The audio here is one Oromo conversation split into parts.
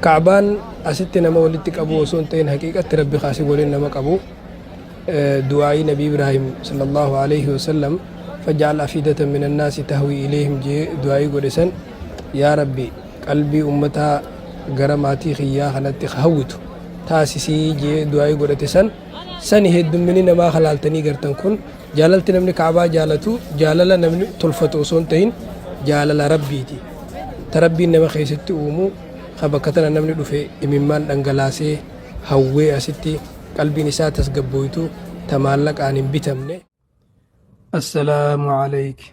Ka'baan asitti nama walitti qabuu osoo hin ta'in haqiiqatti Rabbi kaasii waliin nama qabu. Du'aa'ii Nabi Ibraahim sallallahu alaihi wasallam faja'al afidatan minan naasi tahwi ilayhim jee du'aa'ii godhe san yaa Rabbi qalbii ummataa gara maatii kiyyaa kanatti hawwitu taasisii jee du'aa'ii godhate san sani heddummini namaa halaaltanii gartan kun Jaalalti namni Ka'abaa jaalatu jaalala namni tolfatu osoo hin tahin jaalala Rabbiiti. Ta Rabbiin nama keessatti uumu ka bakka tana namni dhufe imimmaan dhangalaasee hawwee asitti qalbiin isaa tasgabbooytu ta maallaqaan hin bitamne. Assalaamu Aleyki.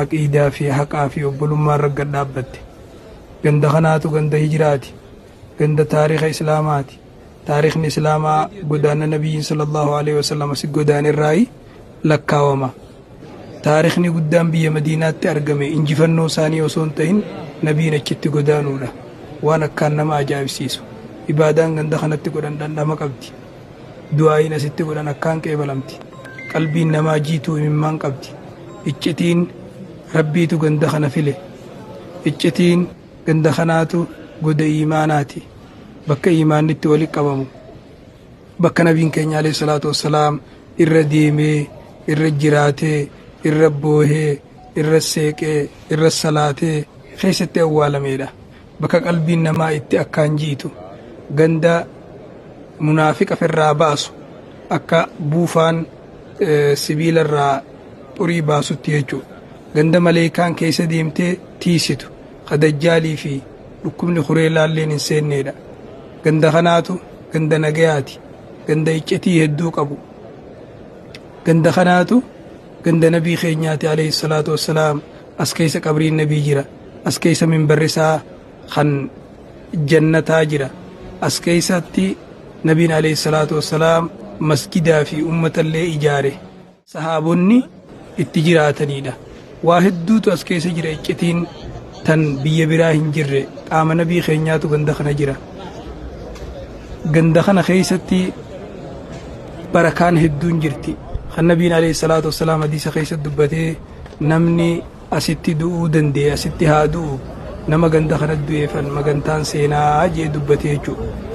Aqiidaa fi haqaa fi obbolummaa irra gad dhaabbatte. Ganda kanaatu ganda hijraati. Ganda taarikha Islaamaati. Taarikhni Islaamaa godaanna Nabiyyiin sallallahu alaihi wasallam asi godaane irraayi lakkaawama. Taarikhni guddaan biyya Madiinaatti argame injifannoo isaanii osoo hin tahin Nabiin achitti godaanuudha. Waan akkaan nama ajaa'ibsiisu. Ibaadaan ganda kanatti godhan dhandhama qabdi. du'aa'iin asitti godhan akkaan qeebalamti. Qalbiin namaa jiituu imimmaan qabdi. Iccitiin Rabbiitu ganda kana file. Iccitiin ganda kanaatu goda iimaanaati. Bakka iimaanni itti walitti qabamu. Bakka nabiin keenya alayhi salaatu wassalaam irra deemee, irra jiraatee, irra boohee, irra seeqee, irra salaatee keessatti awwaalameedha. Bakka qalbiin namaa itti akkaan jiitu, ganda munaafiqa firraa baasu, akka buufaan sibiila irraa xurii baasutti jechuu. Ganda maleeykaan keessa deemtee tiiysitu, ka dajjaalii fi dhukkubni kureelaalleen hin seenneedha. Ganda kanaatu ganda nagayaati, ganda iccitii hedduu qabu. Ganda kanaatu Ganda Nabii keenyaati Aleeyhi salaatu wassalaam as keeysa qabriin Nabii jira as keeysa minbarri isaa kan jannataa jira as keeysatti Nabiin Aleeyhi salaatu wassalaam masjidaa fi ummata illee ijaare sahaabonni itti jiraataniidha waa hedduutu as keeysa jira iccitiin tan biyya biraa hin jirre qaama Nabii keenyaatu ganda kana jira ganda kana keeysatti barakaan hedduun jirti kan nabiin alayhi salaatu wassalaam hadiisa keessatti dubbatee namni asitti du'uu danda'e asitti haa du'u nama ganda kana du'eefan magantaan seenaa jee dubbate jechuudha.